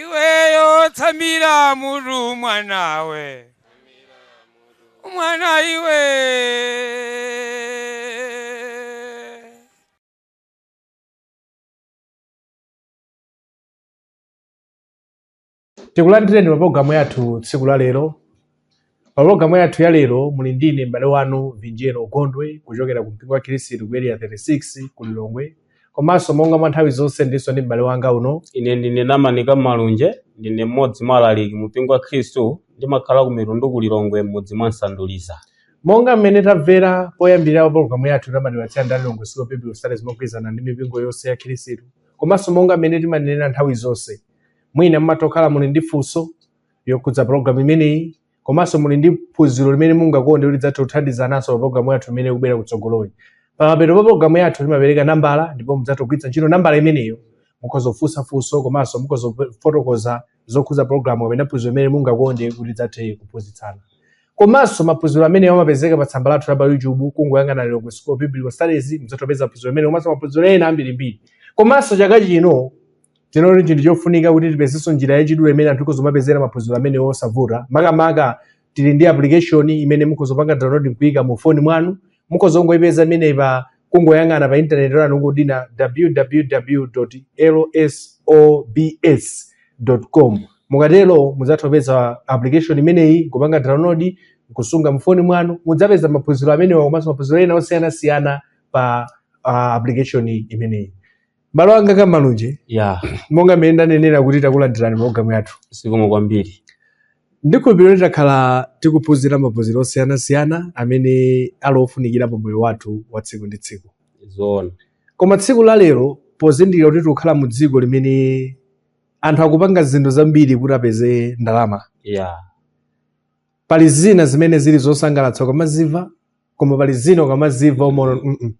iweyo tsamira mutu mwanawe mwana iwe tikulandireni pa pologalamu yathu tsiku la lero pa pologalamu yathu ya lero muli ndine m'bale wanu vinjero gondwe kuchokera ku mpingo wa khirisitu ku area 36 ku lilongwe komanso monga mwa nthawi zonse ndinso ndi m'bale wanga uno ine ndine namanika malunje ndine mmodzi mwa alaliki mu mpingo wa khristu ndimakhala ku mitundu ku lilongwe mmudzi mwa nsanduliza monga mmene tamvera poyambirira mapologalamu yathu amatipatsira ndi a lilongwe school of biblical studies mogwirizana ndi mipingo yonse ya khirisitu komanso monga mmene timanenera nthawi zonse mwina mumatha kukhala muli ndi funso lokhudza pologalamu imeneyi komanso muli ndi phunziro limene mungakonde kuti tidzathe kuthandizananso pa pologalamu yathu imene ikubwera kutsogoloyi pamapeto pa pologalamu yathu timapereka nambala ndipo mudzatha kugwiritsa ntchito nambala imeneyo mukhoza kufunsa funso komanso mukhoza kufotokoza zokhudza pologalamu kapena phunziro imene mungakonde kuti tidzathe kuphunzitsana komanso maphunziro amenewa amapezeka pa tsamba lathu la pa youtube kungoyang'ana lilongwe school of biblical studies mudzatha kupeza phunziro imene komanso maphunziro ena ambirimbiri komanso chaka chino Tinaona kuti n'chinthu chofunika kuti tipezenso njira yachidule imene anthu akhoza kumapezera maphunziro amenewa mosavuta. Makamaka tili ndi application imene mukhoza kupanga download n'kuika mu foni mwanu. Mukhoza kungoipeza imeneyi pa kungoyang'ana pa intaneti lanu kungodina www.lsobs.com. Mukatero mudzatha kupeza application imeneyi kupanga download kusunga mu foni mwanu mudzapeza maphunziro amenewa komanso maphunziro ena osiyanasiyana pa ah, application imeneyi. m'bale wanga a malunje ya monga mmene ndanenera kuti takulandirani programu yathu zikomo kwambiri ndikhulupirira kuti takhala tikuphunzira maphunziro osiyanasiyana amene ali ofunikira pa moyo wathu wa tsiku ndi tsiku zoona koma tsiku la lero pozindikira kuti tikukhala mu dziko limene anthu akupanga zinthu zambiri kuti apeze ndalama ya pali zina zimene zili zosangalatsa ukamazimva koma pali zina ukamazimva umaona mm -mm.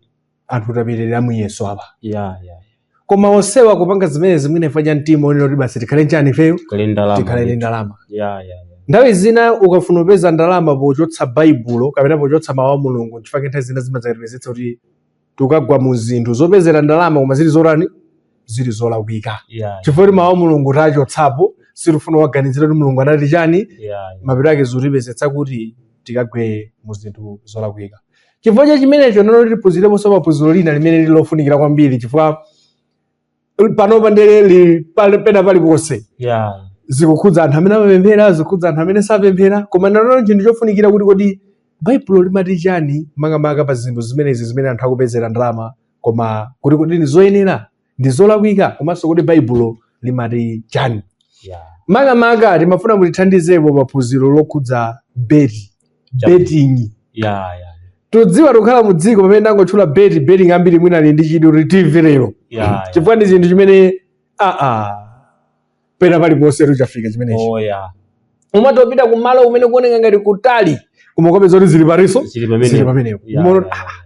anthu tapitirira muyeso apa yeah, yeah. koma onsewa kupanga zimenezi mwina chifukwa cha mtima onena kuti basi tikhale n'chani ifeyo Tikhale ndi ndalama. tikhale ndi ndalama Yeah, yeah, yeah. nthawi zina ukafuna kupeza ndalama pochotsa baibulo kapena pochotsa mawu a mulungu chifukwa nthawi zina zimadzakatipezetsa kuti tikagwa mu zinthu zopezera ndalama koma zili zotani zili zolakwika Yeah. chifukwa kuti mawu a mulungu tachotsapo sitikufuna kuganizira kuti mulungu anati chani Yeah. yeah. mapeto ake zikutipezetsa kuti tikagwe mu zinthu zolakwika chifukwa cha chimenecho lero tiphunzireponso phunziro lina limene lili lofunikira kwambiri chifukwa panopa ndele pena paliponse ya zikukhudza anthu amene amapemphera zikukhudza anthu amene sapemphera koma nano chinthu chofunikira kuti kodi baibulo limati chani makamaka pa zinthu zimenezi zimene anthu akupezera ndalama koma kuti kodi ndi zoyenera ndi zolakwika komanso kuti baibulo limati chani ya makamaka timafuna mutithandizepo pa phunziro lokhudza beti betting ya ya tudziwa tukhala mu dziko pamene ndangotchula beti betting ambiri mwina ali ndi chidwi kuti timvere lero ya ya. chifukwa ndi chinthu chimene aa pena paliponse tuchafika chimenechi oh ya umatopita ku malo kumene kuoneka ngati kutali koma ukapeza kuti zili paliponso zili pamenepo. zili pamenepo Ya, Umaona ya, kuti, ya. "Ah,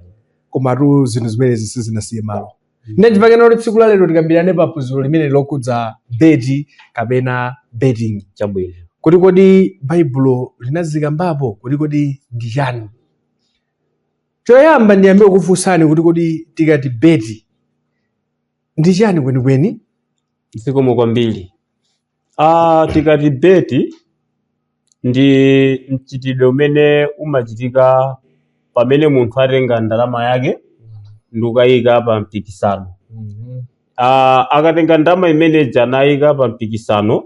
komatu zinthu zimenezi sizinasiye malo Ndechi chake nano tsiku la lero tikambirane pa phunziro limeneli lokhudza beti kapena betting. Chabwino. Kuti kodi Baibulo linazikambapo kuti kodi ndi chani? Choyamba ndiyambe kukufunsani kuti kodi tikati beti ndi chani kwenikweni? Zikomo kwambiri. Ah, tikati beti ndi mchitidwe umene umachitika pamene munthu atenga ndalama yake ndikukayika pa mpikisano Mhm. Ah, akatenga ndalama imene ija nayika pa mpikisano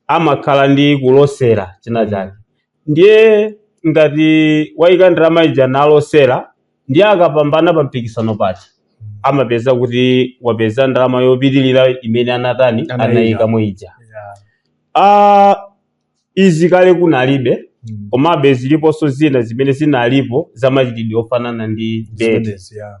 amakhala ndi kulosera china chake ndiye ngati wayika ndalama ija nalosera ndiye akapambana pa mpikisano paja amapezeka kuti wapeza ndalama yopitirira imene anatani Anayika. anayikamo ija Yeah. Ah, izi kale kunalibe Mm. komabe ziliponso zina zimene zinalipo za machitidwe ofanana ndi beti Zimenezi, yeah.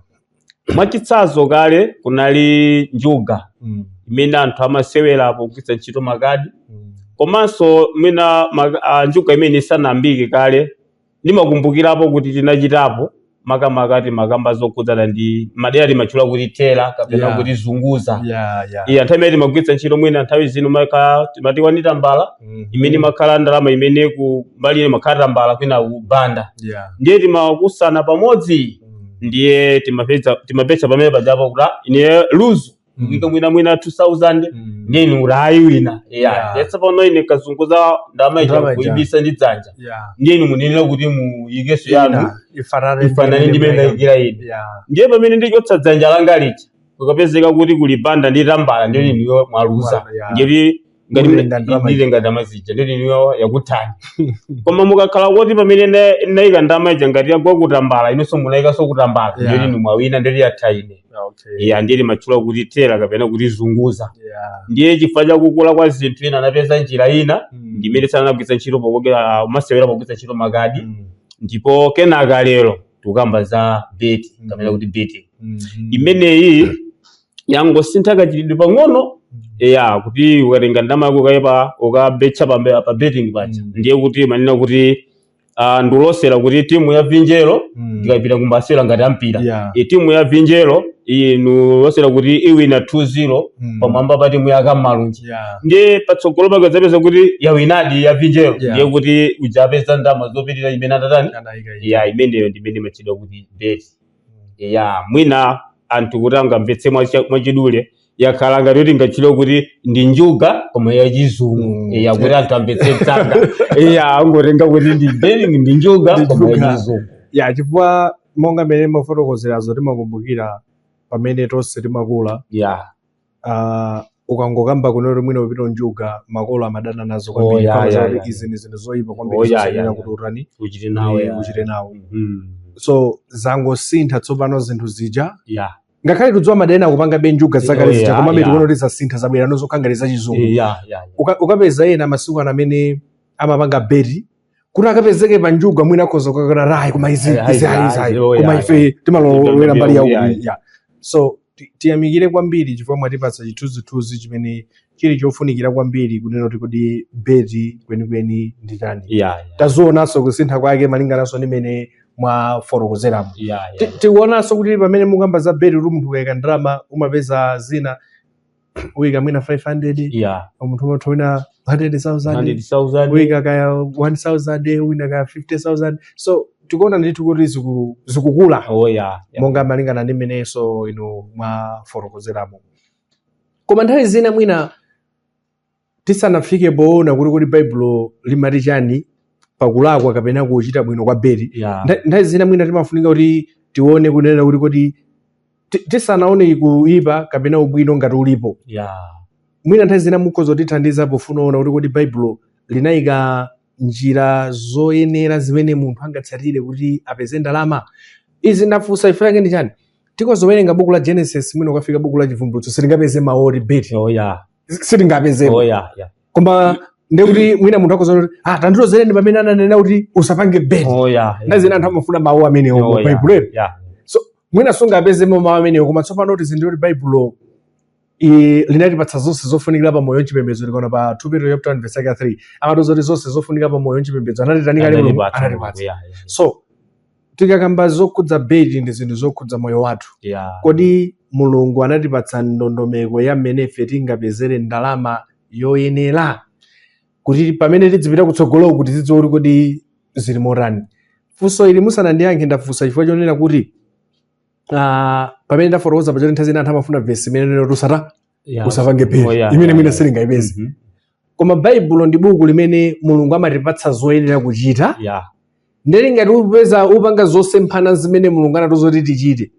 mwachitsanzo kale kunali njuga Mm. imene anthu amasewera pogwiritsa ntchito makadi Mm. komanso mwina ma- ah, njuga imene isanayambike kale ndimakumbukirapo kuti tinachitapo makamaka timakamba zokhudzana ndi madera timatchula kuti tera kapena Yeah. kuti zunguza yeah yeah iya nthawi imene timagwiritsa ntchito mwina nthawi zino maka timati wani tambala Mhm. imene imakhala ndalama imene ku mbali ina imakhala tambala kwina kubanda yeah ndiye timakusana pamodzi Mm. ndiye timapeza timapeza pamene pajapo kuti ah, ine luzu Mm. ika mwina mwina 2000 Mm. ndiye inu mwayika wina Yeah. yeah. yesa pano ine nkazunguza ndama ija Ndama ija. kuibisa ndi dzanja Yeah. ndiye inu munenera kuti muikenso yanu Ina, ifanane ndi ifanane imene ndi mene mwaika. ndaikira ine Yeah. ndiye pamene ndichotsa dzanja langa lija kukapezeka kuti kuli banda ndi tambala ndiye inuyo mwaluza Yeah. ngati ngati Muli mune- nda ndalama ndili ija. ndalama zija ndiye inuyo yakuthani koma mukakhala kuti pamene nda- ndayika ndalama ija ngati yagwa kutambala inenso munayikanso kutambala Yeah. ndiye inu mwawina ndiye yatha ine Ah, okay. iya ndiye timatchula kuti tera kapena kuti zunguza Yeah. ndiye chifukwa cha kukula kwa zinthu ena anapeza njira ina Mm. ndimene sanagwiritsa ntchito pokokera amasewera pogwiritsa ntchito makadi Mm. ndipo kenaka lero tikukamba za beti kapena kuti beti Mhm. imeneyi yangosintha kachitidwe pang'ono ya kuti ukatenga ndalama yako ukaika ukabetcha pa pa betting paja Mm. ndiye kuti umanena kuti ah, ndilosera kuti timu ya vinjero Mm. ikapita kumasewera ngati a mpira Yeah. e timu ya vinjero ndilosera kuti iwina 2-0 Mm. pamwamba pa timu ya kamalunji Yeah. ndiye patsogolo pake udzapeza kuti yawinadi ya vinjero Yeah. ndiye kuti udzapeza ndalama zopitirira imene atatani Anaika iye. ya imeneyo ndi imene imatchedwa kuti beti ya mwina anthu kuti angomvetsa mwacha- mwachidule yakhala ngati kuti tingatchule kuti ndi njuga koma yachizungu Mm. ya kuti anthu amvetse msanga ya angotenga kuti ndi betting ndi njuga Ndi koma njuga. yachizungu ya chifukwa monga mmene mwafotokozeramo timakumbukira pamene tonse timakula ya uh, ukangokamba kunena kuti mwina kupita ku njuga makolo amadana nazo oh, kwambiri yeah, yeah, yeah. izi ndi zinthu zoyipa kwambiri oh, yeah, yeah, kuti utani uchite nawo yeah. uchite nawo mm. so zangosintha tsopano zinthu zija yeah ngakhale tudziwa pali ena akupangabe njuga zakale oh, zija komabe tikuona kuti zasintha zabwera nazo zokhalako za chizungu ukapeza ena masiku ana amene amapanga beti kuti akapezeke pa njuga mwina akhoza kukakana ayi koma izi Eh, izi ayi, ayi izi ayi ayi, oh, koma yeah. ife timalowera mbali ya Yeah. uku ya so ti- tiyamikire kwambiri chifukwa mwatipatsa chithunzithunzi chimene chili chofunikira kwambiri kunena kuti kodi beti kwenikweni ndi chani Yeah, yeah, tazionanso kusintha kwake malingananso ndi mmene mwafotokozeramo yeah, yeah. Ti- tikuonanso kuti pamene mukamba za beti kuti munthu ukayika ndalama umapeza zina uyika mwina 500 yeah munthu atha uwina 100000 100,000 uyika kaya 1000 uwina kaya 50000 so tikuona ndithu kuti ziku- zikukula oh yeah, yeah. monga malingana ndi mmenenso inu mwafotokozeramo koma nthawi zina mwina tisanafike poona kuti kodi baibulo limati chani pakulakwa kapena kuchita bwino kwa beti Yeah. Ntha- nthawi zina mwina timafunika kuti tione kunena kuti kodi ti- tisanaone kuipa kapena ubwino ngati ulipo Yeah. mwina nthawi zina mukhoza kutithandiza pofuna kuona kuti kodi baibulo linayika njira zoyenera zimene munthu angatsatire kuti apeze ndalama izi ndafunsa chifukwa chake ndi chani tikhoza kuwerenga buku la genesis mwina ukafika buku la chivumbulutso sitingapeze mawu oti beti Oh, yeah. sitingapezemo oh, yeah, yeah. koma ndiye kuti mwina munthu akhoza kunena kuti ah tandilozereni pamene ananena kuti usapange beti oh, yeah, yeah. nthawi zina anthu amafuna mawu amenewo oh, baibulo yeah, yeah. so mwina sungapezemo mawu amenewo koma tsopano tizindikire kuti baibulo linatipatsa zonse zofunikira pa moyo nchipembedzo tikaona pa 2 Petro chapter 1 verse 3 amatiuza kuti zonse zofunikira pa moyo nchipembedzo anatitani Ambuye anatipatsa so tikakamba zokhudza beti ndi zinthu zokhudza moyo wathu ya kodi mulungu anatipatsa ndondomeko ya mmene ife tingapezere ndalama yoyenera kuti pamene tidzipita kutsogolo kuti tidziwe kuti kodi zili motani funso ili musanandiyankhe ndafunsa chifukwa chonena kuti ah, pamene ndafotokoza pachoti nthawi zina anthu amafuna vesi imene ikuti usata Yeah. usapange phe Oh, yeah, imene yeah, mwina yeah. silingayipeze Mhm. koma baibulo ndi buku limene mulungu amatipatsa zoyenera kuchita Yeah. ndiye ngati upeza upanga zosemphana zimene mulungu anatiuza kuti tichite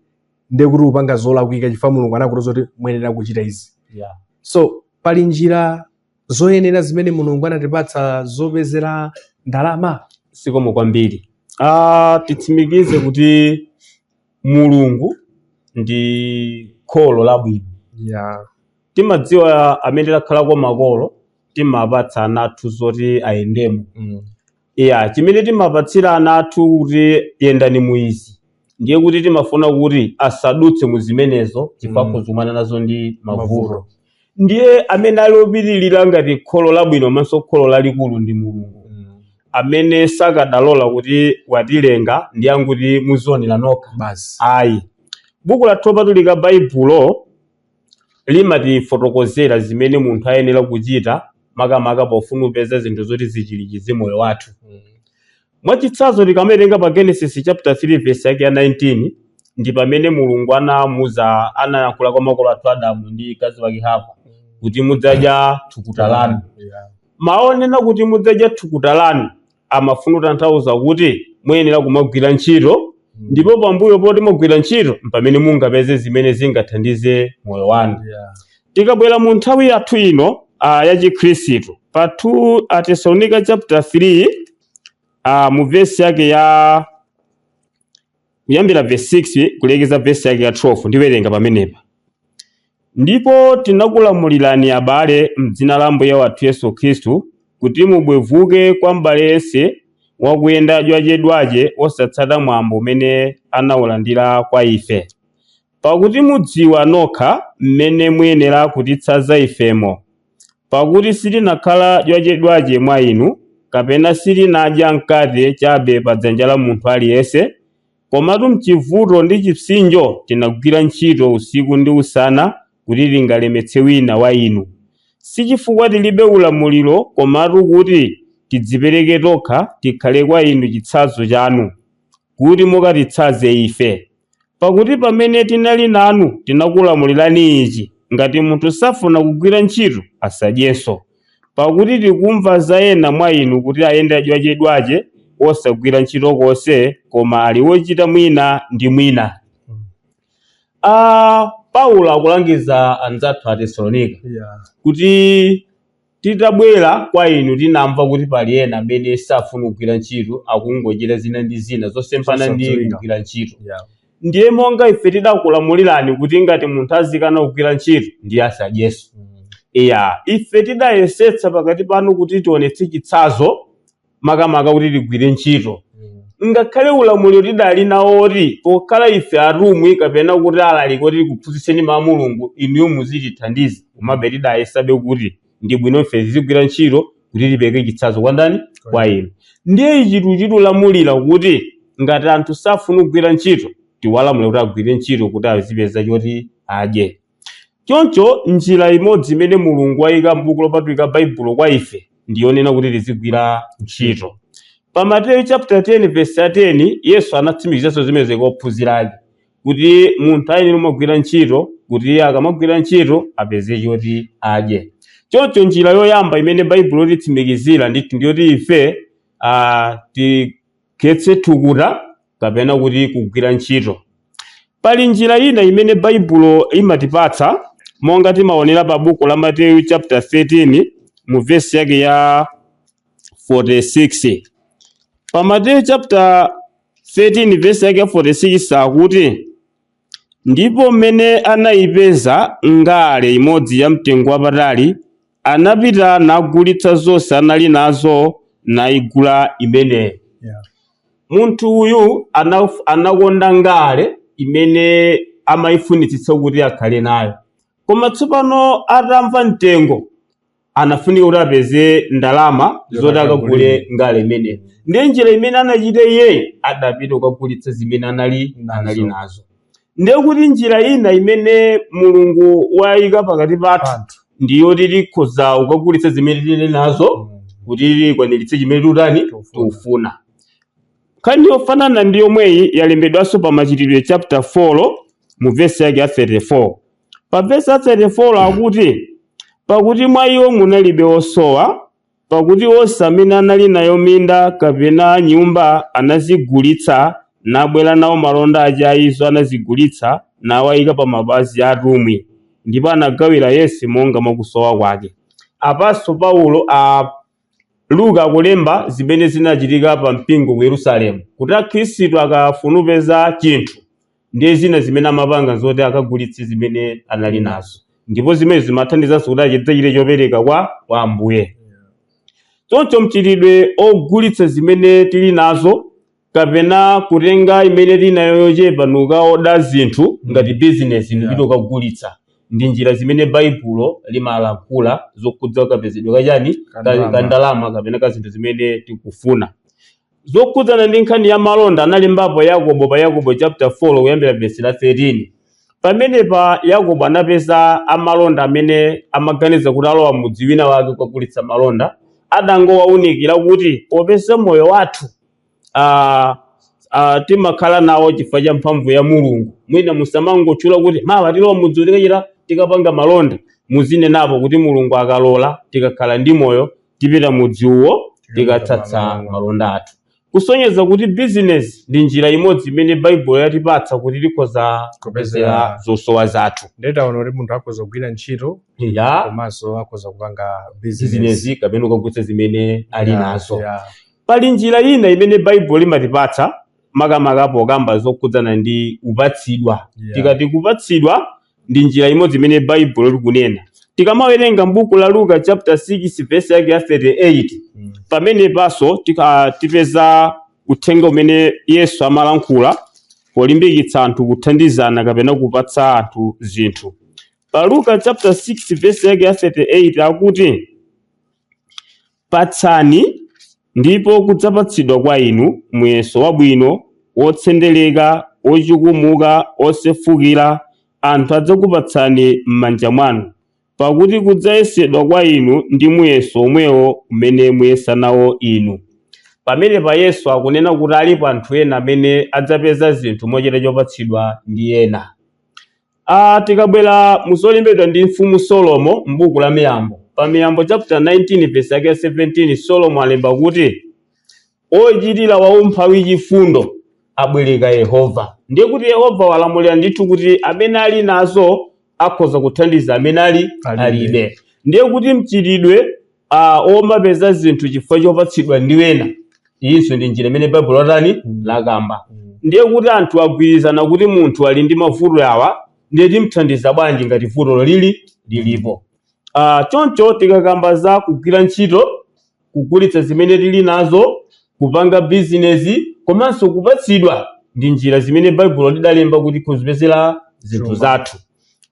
ndiye kuti upanga zolakwika chifukwa mulungu anatiuza kuti muyenera kuchita izi Yeah. so pali njira zoyenera zimene mulungu anatipatsa zopezera ndalama zikomo kwambiri ah titsimikize kuti Mulungu ndi kholo labwino. Yeah. Timadziwa amene takhalako makolo, timapatsa ana athu zoti ayendemo. Mm. Iya, chimene timapatsira ana athu kuti yendani mu izi ndiye kuti timafuna kuti asadutse mu zimenezo chifukwa Mm. akhoza kukumana nazo ndi mavuto. Mavuto. ndiye amene ali opitirira ngati kholo labwino komanso kholo lalikulu ndi mulungu Mm. amene sakadalola kuti watilenga ndi kungoti muzionera nokha basi ayi buku lathu lopatulika baibulo limatifotokozera zimene munthu ayenera kuchita makamaka pofuna kupeza zinthu zoti zichirikize moyo wathu Mm. Mwachitsanzo, tikamawerenga pa Genesis chapter 3 verse yake ya 19 ndi pamene Mulungu anamuuza anayankhula kwa makolo athu Adamu ndi mkazi wake Hava kuti mudzadya thukuta lanu. Yeah. Mawu onena kuti mudzadya thukuta lanu amafuna kutanthauza kuti muyenera kumagwira ntchito ndipo pambuyo poti mwagwira ntchito mpamene mungapeze zimene zingathandize moyo wanu. Yeah. Tikabwera mu nthawi yathu ino a ya Chikhristu, pa 2 Atesalonika chapter 3 a mu vesi yake ya kuyambira vesi 6 kulekeza vesi yake ya 12 ndiwerenga pamenepa. Ndipo tinakulamulirani abale m'dzina la Ambuye wathu Yesu Khristu kuti mubwevuke kwa m'bale yense wakuyenda dwachedwache osatsata mwambo umene anaulandira kwa ife. Pakuti mudziwa nokha m'mene muyenera kutitsanza ifemo, pakuti sitinakhala dwachedwache mwa inu, kapena sitinadya mkate chabe pa dzanja la munthu aliyense, komatu m'chivuto ndi chipsinjo tinagwira ntchito usiku ndi usana kuti tingalemetse wina wa inu. Sichifukwa tilibe ulamuliro komatu kuti tidzipereke tokha tikhale kwa inu chitsanzo chanu. kuti mukatitsanze ife. Pakuti pamene tinali nanu tinakulamulirani ichi, ngati munthu safuna kugwira ntchito, asadyenso. Pakuti tikumva za ena mwa inu kuti ayenda dwachedwache, osagwira ntchito konse, koma ali wochita mwina ndi mwina. Ah, Paulo akulangiza anzathu a Tesalonika kuti Titabwera kwa inu tinamva kuti pali ena amene safuna kugwira ntchito akungochita zina ndi zina zosemphana ndi kugwira ntchito. Ndiye monga ife tidakulamulirani kuti ngati munthu azikana kugwira ntchito ndiye asadyenso. Iya, ife tidayesetsa pakati panu kuti tionetse chitsanzo makamaka kuti tigwire ntchito ngakhale ulamuliro tidali nawo oti pokhala ife atumwi kapena kuti alaliki oti tikuphunzitseni mawu a mulungu inuyo muzitithandiza komabe tidayesabe kuti ndi bwino ife tizigwira ntchito kuti tipereke chitsanzo kwa ndani kwa inu ndiye ichi chitilamulira kuti ngati anthu safuna kugwira ntchito tiwalamule kuti agwire ntchito kuti azipeza choti adye Choncho, njira imodzi imene Mulungu waika m'Buku Lopatulika Baibulo kwa ife ndi yonena kuti tizigwira ntchito. Pa Mateyu chaputala 10 vesi ya 10, Yesu anatsimikizanso zimenezi kwa ophunzira ake kuti munthu ayenera kumagwira ntchito kuti akamagwira ntchito apeze choti adye. Choncho njira yoyamba imene Baibulo lititsimikizira ndithu ndi yoti ife ah, ti khetse thukuta kapena kuti kugwira ntchito pali njira ina imene baibulo imatipatsa monga timaonera pa buku la mateyu chaputala 13 mu vesi yake ya 46 pa mateyu chaputala 13 vesi yake ya 46 akuti Ndipo m'mene anaipeza ngale imodzi ya mtengo wapatali, anapita nagulitsa zonse anali nazo, naigula imeneyo. Munthu uyu anaf- anakonda ngale imene amaifunitsitsa kuti akhale nayo, koma tsopano atamva mtengo anafunika kuti apeze ndalama zoti akagule ngale imeneyo ndiye njira imene anachita iyeyo adapita kukagulitsa zimene anali anali nazo ndiye kuti njira ina imene mulungu wayika pakati pathu ndiyoti tikhoza kukagulitsa zimene tili nazo kuti tikwaniritse chimene tikutani tikufuna nkhani yofanana ndi yomweyi yalembedwanso pa machitidwe chaputala 4 mu vesi yake ya 34 Pa vesi ya 34 akuti, Pakuti mwa iwo munalibe wosowa, pakuti onse amene anali nayo minda kapena nyumba anazigulitsa nabwera nawo malonda ache a izo anazigulitsa, nawaika pa mapazi a atumwi, ndipo anagawira yense monga mwa kusowa kwake. Apanso Paulo a Luka akulemba zimene zinachitika pa mpingo ku Yerusalemu kuti Akhristu akafuna kupeza chinthu ndiye zina zimene amapanga zoti akagulitse zimene anali nazo ndipo zimene zimathandizanso kuti achita- achite chopereka kwa kwa Ambuye. Choncho mchitidwe ogulitsa zimene tili nazo kapena kutenga imene tili nayo yochepa nukaoda zinthu ngati bizinesi Yeah. nupita ukagulitsa ndi njira zimene baibulo limalankhula zokhudza kapezedwe kachani ka- Kandalama. ka ndalama kapena ka zinthu zimene tikufuna zokhudzana ndi nkhani ya malonda analembapo yakobo pa yakobo chapter 4 kuyambira vesi la 13 pamenepa yakobo anapeza amalonda amene amaganiza kuti alowa mudzi wina wake kukagulitsa malonda adangowaunikira kuti popeza moyo wathu ah, ah, timakhala nawo chifukwa cha mphamvu ya mulungu mwina musamangotchula kuti mawa tilowa mudzi uwo tikachita tikapanga malonda muzinenapo kuti mulungu akalola tikakhala ndi moyo tipita mudzi uwo tikatsatsa malonda athu kusonyeza kuti bizinesi ndi njira imodzi imene baibulo yatipatsa kuti tikhoza kupezera zosowa zathu ndetaona kuti munthu akhoza kugwira ntchito ya komanso akhoza kupanga bizinesi bizinesi kapena kukagulitsa zimene ali nazo Pali njira ina imene Baibulo limatipatsa makamaka pokamba zokhudzana ndi kupatsidwa. Yeah. Tikati kupatsidwa ndi njira imodzi imene Baibulo likunena. Tikamawerenga m'buku la Luka chapter 6 verse yake ya 38 Mm. pamenepanso tika- tipeza uthenga umene Yesu amalankhula polimbikitsa anthu kuthandizana kapena kupatsa anthu zinthu. Pa Luka chapter 6 verse yake ya 38 akuti Patsani, ndipo kudzapatsidwa kwa inu, muyeso wabwino, wotsendereka, wochukumuka, wosefukira, anthu adzakupatsani m'manja mwanu. Pakuti kudzayesedwa kwa inu ndi muyeso womwewo umene muyesa nawo inu. Pamenepa Yesu akunena kuti alipo anthu ena amene adzapeza zinthu mochita chopatsidwa ndi ena. A. Tikabwera mu zolembedwa ndi Mfumu Solomo m'buku la Miyambo, pa Miyambo chaputala 19 vesi yake ya 17 Solomo alemba kuti, Wochitira waumphawi chifundo abwereka Yehova. Ndiye kuti Yehova walamulira ndithu kuti amene ali nazo akhoza kuthandiza amene ali Alibe. alibe. Ndiye kuti mchitidwe a omapeza zinthu chifukwa chopatsidwa ndi ena iyinso ndi njira imene baibulo latani Mm. lakamba Mm. ndiye kuti anthu agwirizana kuti munthu ali ndi mavuto awa ndiye timthandiza bwanji ngati vutolo lili lilipo Ah, choncho tikakamba za kugwira ntchito kugulitsa zimene tili nazo kupanga bizinesi komanso kupatsidwa ndi njira zimene baibulo lidalemba kuti kuzipezera zinthu Chuma. zathu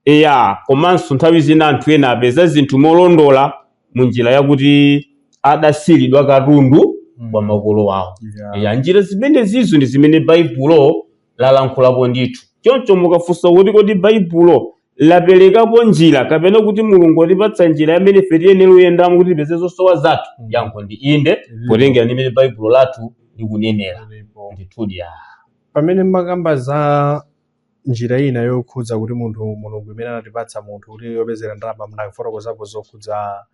Eya, komanso nthawi zina anthu ena apeza zinthu molondola mu njira yakuti adasiiridwa katundu Mm. kwa makolo awo. Yeah. Eya, njira zimenezizo ndi zimene Baibulo lalankhulapo ndithu. Choncho mukafunsa kuti kodi Baibulo laperekapo njira kapena kuti Mulungu watipatsa njira imene ife tiyenera kuyendamo kuti tipeze zosowa zathu? Mm. Yankho ndi inde, Ilipo. potengera ndi mmene Baibulo lathu likunenera. Ndipo. Ndithudi ya. pamene mumakamba za Njira ina yokhudza kuti munthu Mulungu imene anatipatsa munthu kuti yopezera ndalama munafotokozapo zokhudza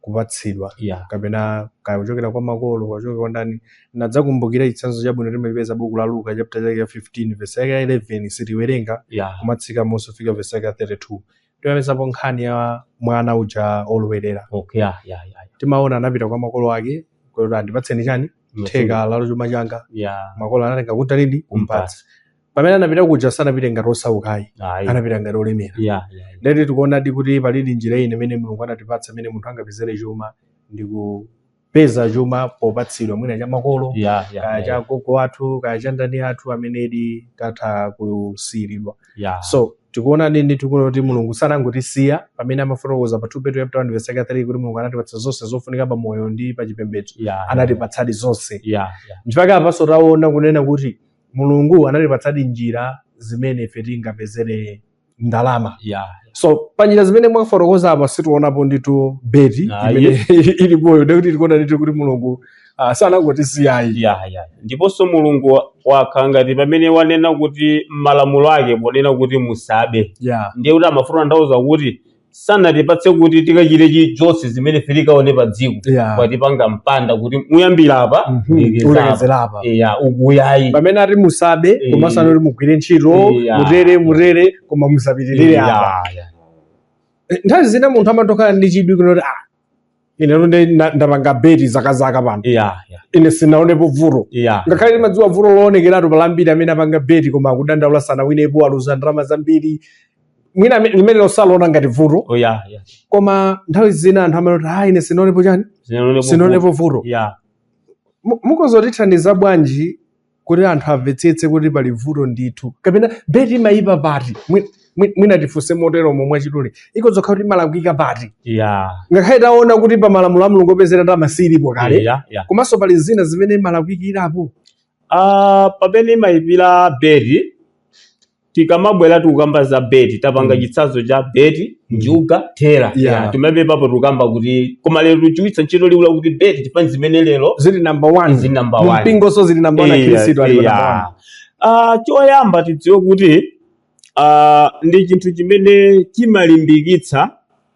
kupatsidwa yeah. kapena kaya kuchokera kwa makolo kuchokera kwa ndani. Nadzakumbukira chitsanzo chabwino timachipeza buku la Luka chapter chake ya 15 verse yake ya 11 sitiwerenga yeah. kumatsika mmunsi kufika verse yake ya 32 timapezapo nkhani ya mwana uja olowerera okay, yeah, yeah, yeah. timaona anapita kwa makolo ake kuti andipatseni chani theka la chuma changa ya makolo anatenga katundu ndi kumpatsa pamene anapita kuja sanapite ngati osaukayi ayi anapita ngati olemera ya ya ndiyeti tikuonadi kuti palidi njira iyi imene mulungu anatipatsa imene munthu angapezere chuma ndi kupeza chuma popatsidwa mwina cha makolo ya ya kaya cha gogo athu kaya cha ndani athu amenedi tatha kusiyiridwa ya so Tikuonadi ndithu kunena kuti Mulungu sanangotisiya pamene amafotokoza pa 2 Petro chapter 1 verse 3 kuti Mulungu anatipatsa zonse zofunika pa moyo ndi pa chipembedzo. Yeah, Anatipatsadi zonse. yeah, yeah. Nchifukwa apanso taona kunena kuti Mulungu anatipatsadi njira zimene ife tingapezere ndalama. Yeah. So pa njira zimene mwafotokoza apa sitiwonapo ndithu beti Ah, imene ilipoyo ndikuti tikuona ndithu kuti Mulungu Ah, sanangotisiyayi ya ya ndiponso mulungu wa- wakhala ngati pamene wanena kuti malamulo ake ponena kuti musabe ya ndiye kuti amafuna kutanthauza kuti sanatipatse kuti tikachite chilichonse chimene ife tikaone pa dziko ya watipanga mpanda kuti muyambire apa Mhm. ndikeza apa. mulekezere apa ya ukuyayi pamene ati musabe Eh. komanso anati mugwire ntchito Eh, ah. mutere mutere koma musapitirire apa Ya, ya. Eh, nthawi zina munthu amatha kukhala ndi chidwi kunoti ah ine ndithu na- ndapanga beti zakazaka pano ya ya ine sinaonepo vuto ya ngakhale timadziwa vuto loonekeratu pali ambiri amene apanga beti koma akudandaula sanawinepo aluza ndalama zambiri mwina ame- limenelo saliona ngati vuto oh ya ya koma nthawi zina anthu amanoti ah ine sinaonepo chani sinaonepo sinaonepo vuto ya Mu- mukhoza kutithandiza bwanji kuti anthu amvetsetse kuti pali vuto ndithu kapena beti imayipa pati Mwi- mwi- mwina tifunse motero mwachidule ikhoza kukhala kuti imalakwika pati ya ngakhale taona kuti pa malamulo a mulungu opezera ndalama silipo kale ya ya komanso pali zina zimene imalakwikirapo Ah, pamene imayipira beti tikamabwera tikukamba za beti tapanga Mm. chitsanzo cha beti Mm. njuga tera Yeah. yeah. timapepalapo tikukamba kuti koma lero tigwiritsa ntchito liwu lakuti beti chifukwa ndi zimene lero zili number one zili number one. mumpingonso zili number one Iya, akhristu ali pa iya. number one Ah, choyamba tidziwe kuti ah, ndi chinthu chimene chimalimbikitsa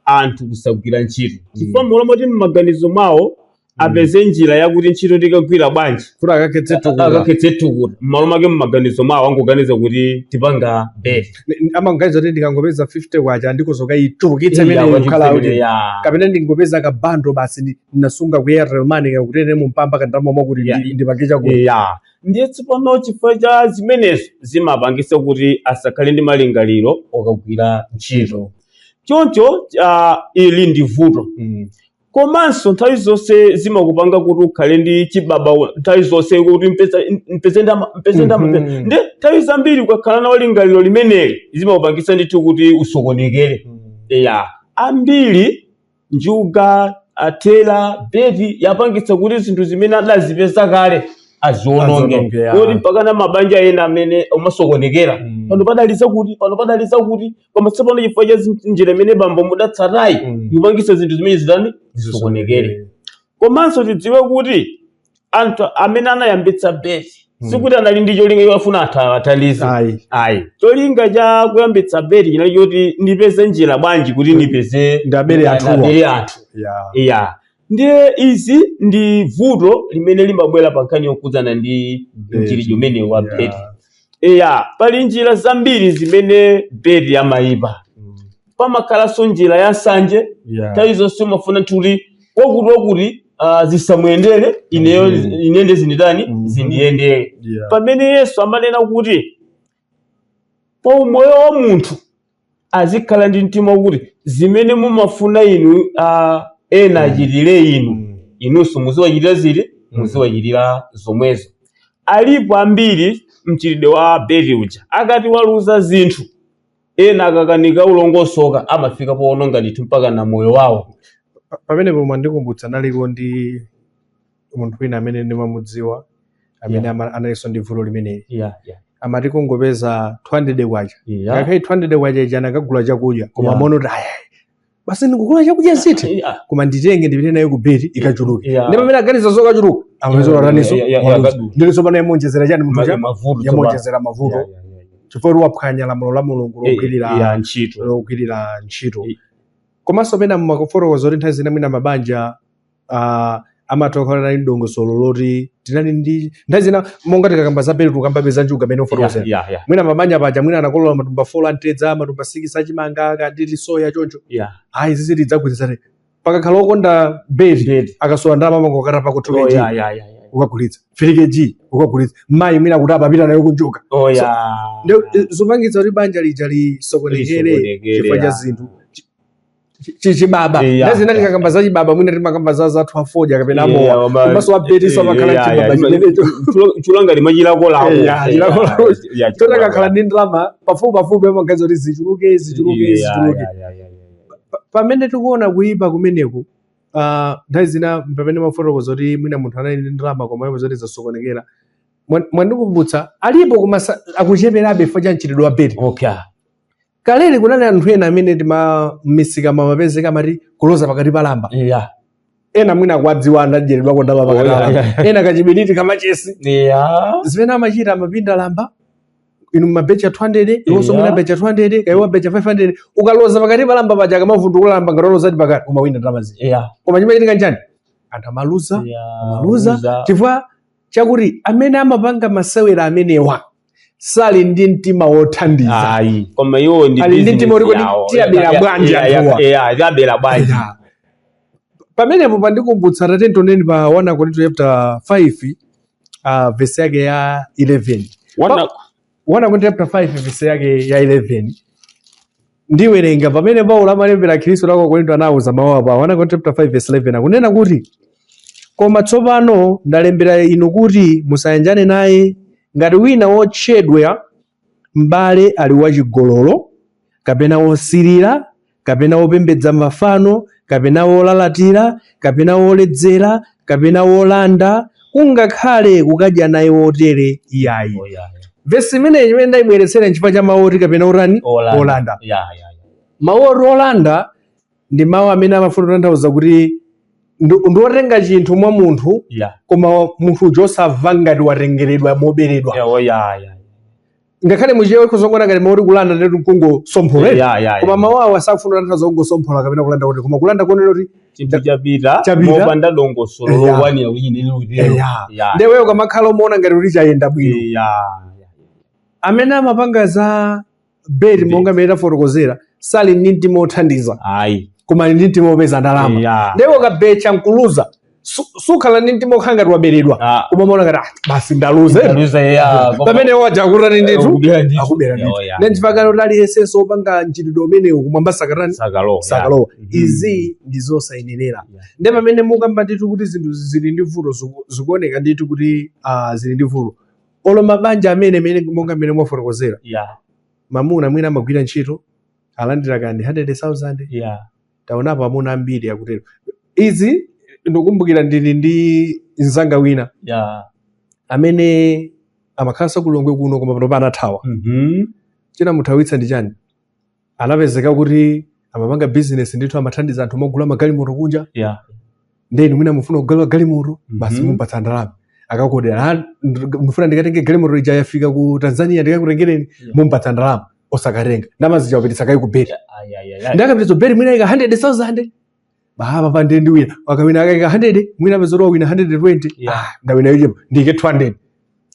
anthu kusagwira ntchito chifukwa mmalo moti m'maganizo mwawo apeze njira yakuti ntchito ndikagwira bwanji kuti akakhetse thukuta akakhetse thukuta mmalo mwake m'maganizo mwawo angoganiza kuti ndipanga beti amaganiza kuti ndikangopeza 50 kwacha ndikozoka ichulukitse Iya, imene kuti ikhala kuti mfenere ya- kapena ndingopeza kabandulo basi ndi- ndinasunga ku airtel money kakutere mu mpamba kandalama kwakuti Ya. ndi- ndipange chakuti ya ndiye tsopano chifukwa cha zimenezo zimapangisa kuti asakhale ndi malingaliro okagwira ntchito choncho uh, ili ndi vuto mm. komanso nthawi zonse zimakupanga kuti ukhale ndi chibaba nthawi zonse kuti mpeze mpeze ndalama mpeze ndalama Mhm. nde nthawi zambiri ukakhala nalo lingaliro limeneli zimakupangitsa ndithu kuti usokonekere Mm. ya ambiri njuga ya tera beti yapangitsa kuti zinthu zimene adazipeza kale aziononge Aziononge, ya. koti mpaka na mabanja ena amene amasokonekera Mm. pano padali zakuti pano padali zakuti koma tsopano chifukwa cha zin- njira imene bambo mudatsata iyi Mm. ikupangitsa zinthu zimene zitani zisokonekere komanso tidziwe kuti anthu amene anayambitsa beti sikuti anali ndi cholinga chofuna anthu awathandize Ayi. ayi cholinga cha kuyambitsa beti chinali choti ndipeze njira bwanji kuti ndipeze ndiwabere anthuwa. abere anthu ya iya ndiye izi ndi vuto limene limabwera pa nkhani yokhudzana ndi Beti. mchitidwe umenewu wa Ya. beti iya pali njira zambiri zimene beti yamayipa Mm. pamakhalanso njira ya nsanje Yeah. nthawi zonse umafuna kuti wakuti wakuti ah, zisamuyendere ineyo Mhm. ine nde zinditani Mhm. zindiyendere Yeah. pamene yesu amanena kuti pa umoyo wa munthu azikhala ndi mtima wakuti zimene mumafuna inu ah, ena achitire inu Mm. inunso muziwachitira ziti muziwachitira zomwezo alipo ambiri mchitidwe wa beti uja akati waluza zinthu ena akakanika kulongosoka amafika poononga ndithu mpaka na moyo wawo Pa- pamenepo mwandikumbutsa analiko ndi munthu wina amene ndimamudziwa amene Yeah. ama- analinso ndi vuto limeneli yeah, yeah, amati kungopeza 200 kwacha yeah. ngakhale 200 kwacha ija akanagula chakudya koma Yeah. mwina kuti aya basi ndikagula chakudya zitha Eh, ah, koma nditenge ndipite nayo ku beti ikachuluke yeah. ndi pamene aganiza zokachuluka amazora Yeah, ataninso yeah, yeah, yeah, waluza. yeah. ndiye tsopano yamuonjezera chani munthu Ma- cha mavuto tsopano. yamuonjezera mavuto Yeah, yeah, yeah, yeah. chifukwa kuti waphwanya lamulo la mulungu Eh, eh, logwirira yeah, ntchito logwirira ntchito Eh. komanso pena mumafotokoza kuti nthawi zina mwina mabanja mabanja amatha kukhala ndi dongosolo loti tidalindi nthawi zina monga tikakamba za beti tikukambabe za njuga pamene mukufotokoza yeah, yeah, yeah. mwina mabanja paja mwina anakolola matumba folo a mtedza matumba sikisi achimanga kaya ndi soya choncho yeah. ayi izizi tidzagwirizane pakakhala okonda beti Beti. akasowa ndalama amangokatapako Oh, tu keji yeah, yeah, yeah, yeah. ukagulitsa fili keji ukagulitsa mayi mwina kuti wapita nayo kunjuga Oh, So, yeah. Nde- zopangitsa kuti banja lija lisokonekere Lisokonekere, chifukwa cha yeah. zinthu Chi- chi- chi- chibaba Eh, ya, nthawi zina ya. tikakamba za chibaba mwina timakamba za anzathu afodya kapena amowa komanso wa beti amakhala chibaba chimenecho chokhala ngati chilakolako Eh, ya, chilakolako. choti akakhala ndi ndalama pafupi pafupi amaganiza kuti zichuluke zichuluke zichuluke Pa- pamene tikuona kuyipa kumeneku ah, nthawi zina pamene mumafotokoza kuti mwina munthu anali ndi ndalama koma ndipo zonse zasokonekera Mwa- mwandikumbutsa alipo koma sa- akucheperabe chifukwa cha mchitidwe wa beti okay kaleli kunali anthu ena amene ti- m'misika amapezeka amati kuloza pakati pa lamba eya ena mwina akuwadziwa anadyeredwako ndalama pakati pa Oh, lamba yeah, ena kachibiliti kamachesi eya zimene amachita amapinda lamba inu mubecha 200 iwonso Yeah. mwina abecha 200 kaya abecha 500 ukaloza pakati pa lamba paja akamavundukula lamba ngati walozadi pakati umawina ndalama zija eya koma chimachitika nchani anthu amaluza eya amaluza chifukwa chakuti amene amapanga masewera amenewa sali ndi mtima wothandiza ayi koma iwo ndi Ali ndi mtima woti tiwabera Ya- bwanji ya- ya- anthuwa. ya- tiwabera bwanji Ya. pamenepo pandikumbutsa tatiyeni tioneni pa 1 akorinto chapter 5 uh, vesi yake ya 11 Wana- 1 Akorinto chapter 5 verse yake ya 11 ndiwerenga pamene paulo amalembera akhristu a ku akorinto anawuza mawu apa 1 Akorinto chapter 5 verse 11 akunena kuti koma tsopano ndalembera inu kuti musayanjane naye ngati wina wotchedwa m'bale ali wachigololo kapena wosirira kapena wopembedza mafano, kapena wolalatira, kapena woledzera, kapena wolanda, kungakhale kukadya naye wotere iyayi. Oh, yeah, yeah. Vesi imeneyi chimene ndayibweretsera nchifukwa cha mawu oti kapena otani Olanda. olanda. Yeah, yeah, yeah. Mawu oti olanda ndi mawu amene amafuna kutanthauza kuti ndi ndi otenga chinthu mwa munthu Yeah. koma munthu uja osamva ngati watengeredwa moberedwa Yeah, oh, yeah, yeah. ngakhale muchichewa ukhoza kungoona ngati mau oti kulanda ndiye kuti nkungosomphola eti? Yeah, yeah, yeah. koma mawu awa sakufuna kutanthauza kungosomphola kapena kulanda kuti koma kulanda kuonera kuti chinthu chapita Chapita. mopanda dongosolo Yeah. lokwanira kuti chinthu chili kuti lero. Yeah. Yeah. nde iweyo ukamakhala umaona ngati kuti chayenda bwino Yeah. amene amapanga za beti Beti. monga mmene tafotokozera sali ndi mtima othandiza ayi koma ali ndi mtima opeza ndalama Yeah. nde ukabecha nkuluza su- sukhala ndi mtima okhala ngati waberedwa Ah. koma umaona ngati "Ah, basi ndaluze Ndaluza, yeah, koma- pamene uja akutani ndithu Akubera ndithu. akubera ndithu Oh, yeah. ndi chifukwa chake kuti aliyensenso opanga mchitidwe umenewu kumwamba sakatani Sakalowa, sakalowa yeah. Mhm. izi ndi zosayenerera Yeah. nde pamene mukamba ndithu kuti zinthu zili ndi vuto ziku- zikuoneka ndithu kuti ah, zili ndi vuto olo mabanja amene mene monga mmene mwafotokozera Yeah, mamuna mwina amagwira ntchito alandira kani 100000 yeah. taonapo amuna ambiri akutero izi ndikukumbukira ndili ndi mzanga wina ya amene amakhalanso ku Lilongwe kuno koma pano anathawa mhm chinamuthawitsa ndi chani anapezeka kuti amapanga bizinesi ndithu amathandiza anthu mogula magalimoto kunja ya nde inu mwina mufuna kugula galimoto basi Mhm. mumpatsa ndalama akakuodera "Ah, ndifuna ndikatenge galimoto ija yafika ku tanzania ndikakutengereni Yeah. mumpatsa ndalama osakatenga ndalama zija wapititsa kaye ku beti Ai, ai, ai, ai. nde akapititsa beti mwina aika 100000 baba pande ndiwina wakawina akaika 100 mwina apeza kuti wawina 120 Yeah. Ah, ndawina yochepa ndike 200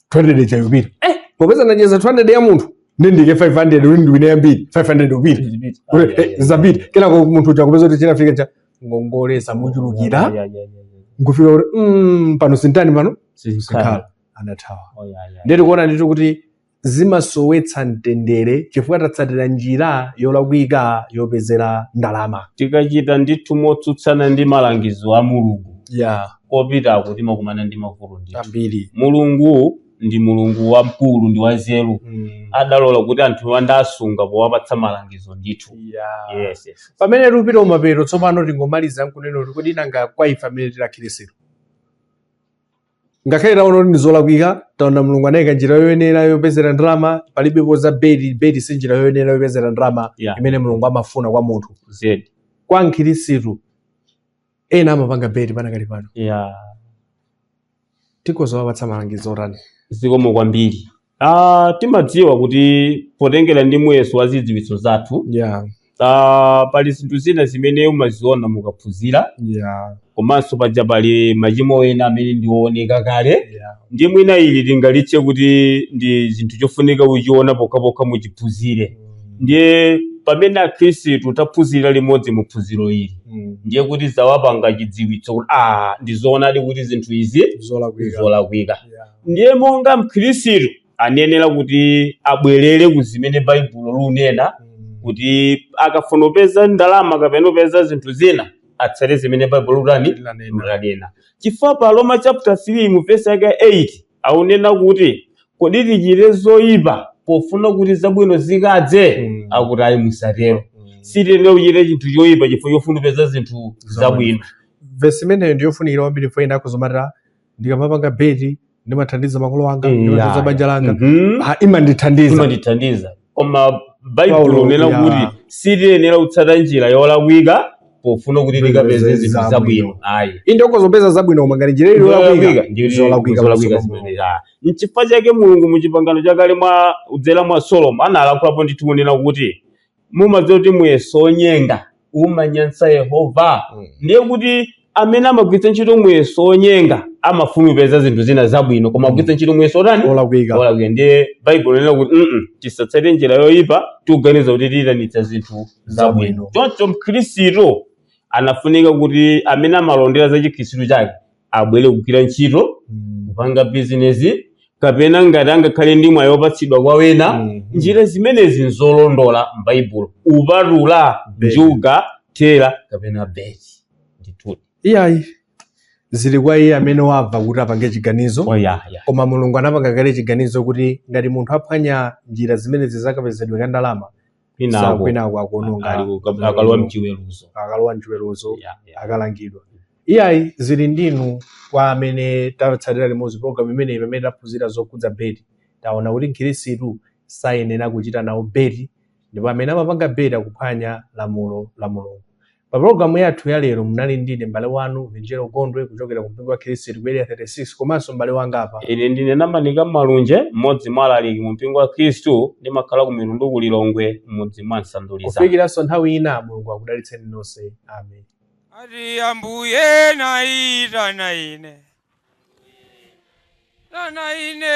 200 chayopita popeza ndaluza 200 ya munthu ndiike 500 uli ndiwina yambiri 500 yapita Zipita. Ai, ai, ai. zapita kenako munthu uja kupeza kuti chinafika cha ngongole zamuchulukira Yeah, yeah, yeah, yeah, yeah. nkufika kuti mm, pano sintani pano Sizikhala. sikhala anathawa Oh, yeah, yeah. ndiye tikuona ndithu kuti zimasowetsa mtendere chifukwa tatsatira njira yolakwika yopezera ndalama tikachita ndithu motsutsana ndi malangizo a mulungu ya kupeza kuti timakumana ndi mavuto ndithu ambiri mulungu ndi Mulungu wamkulu ndi wanzeru Mm. adalola kuti anthu azisunga powapatsa malangizo ndithu Yeah. yes, yes. pamene tikupita kumapeto tsopano tingomaliza nkunena kuti kodi nanga kwa ife amene tili akhirisitu ngakhale taona kuti ndizolakwika taona mulungu anayika njira yoyenera yopezera ndalama palibepo za beti beti si njira yoyenera yopezera ndalama Yeah. imene mulungu amafuna kwa munthu zedi kwa mkhirisitu ena amapanga beti panakali pano yeah. tikhoza kuwapatsa malangizo otani zikomo kwambiri ah, timadziwa kuti potengera ndi muyeso wa zidziwitso zathu yeah ah, pali zinthu zina zimene umaziona mukaphunzira yeah komanso paja pali machimo ena amene ndiwooneka kale yeah ndi mwina ili tingalitche kuti ndi chinthu chofunika kuchiona pokhapokha muchiphunzire ndiye pamene akhristu taphunzira limodzi mu phunziro ili Mm. ndiye kuti zawapanga chidziwitso kuti a ndizoonadi kuti zinthu izi zolakwika zolakwika Yeah. ndiye monga mkhristu ayenera kuti abwerere ku zimene baibulo likunena Mm. kuti akafuna kupeza ndalama kapena kupeza zinthu zina atsate zimene baibulo likutani Lanena. lanena chifukwa pa roma chapter 3 mu vesi yake 8 akunena kuti kodi tichite zoyipa pofuna kuti zabwino zikadze Mm. akuti ayi musatero Mm. sitiyenera kuchita chinthu choyipa chifukwa chofuna kupeza zinthu zabwino vesi imeneyo ndiyofunikira kwambiri poti ena akudzanama ati ndikamapanga beti ndimathandiza makolo anga ndimathandiza banja langa Mhm. Ah, imandithandiza imandithandiza koma baibulo Paulo, akunena ya. kuti sitiyenera kutsata njira yolakwika pofuna kuti Zinthu tikapeze zinthu zabwino. zabwino ayi inde ukhoza kupeza zabwino koma ngati njira ili yolakwika ndiyo zolakwika zolakwika pamaso pa Mulungu. zimene ah. nchifukwa chake mulungu mu chipangano chakale mwa kudzera mwa solomoni analankhulapo ndithu kunena kuti mumadziwa kuti muyeso onyenga umanyansa yehova Mm. ndiye kuti amene amagwiritsa ntchito muyeso wonyenga amafuna kupeza zinthu zina zabwino koma agwiritsa ntchito muyeso otani olakwika olakwika ndiye baibulo likunena kuti mm tisatsate njira yoyipa tikuganiza kuti tiyitanitsa zinthu zabwino Zabwino. choncho mkhristu amafunika kuti amene amalondera za chikhristu chake abwere kugwira ntchito Mm. kupanga bizinesi kapena ngati angakhale ndi mwayi wopatsidwa kwa wena Mhm. njira zimenezi nzolondola m'baibulo kupatula Beti. njuga mthera kapena beti ndithu iyayi zili kwa iye amene wamva kuti apange chiganizo oyaya koma mulungu anapanga kale chiganizo kuti ngati munthu aphwanya njira zimenezi za kapezedwe ka ndalama kwinako kwinako akuononga ali kukab- akalowa mchiweruzo akalowa mchiweruzo Yeah, yeah. akalangidwa iyayi zili ndinu kwa amene tatsatira limodzi program imeneyi pamene taphunzira zokhudza beti taona kuti mkhirisitu sayenera kuchita nawo beti ndipo amene amapanga beti akuphwanya lamulo la mulungu Pa pulogalamu yathu ya lero munali ndine m'bale wanu Vinjero Gondwe kuchokera ku mpingo wa Khristu ku Area 36 komanso m'bale wanga apa. Ine ndine Namanika Malunje, mmodzi mwa alaliki mu mpingo wa Khristu, ndimakhala ku Mitundu ku Lilongwe, m'mudzi mwa Nsanduliza. Kufikiranso nthawi ina Mulungu akudalitseni nonse. Amen. Ati ambuye naitana ine tana ine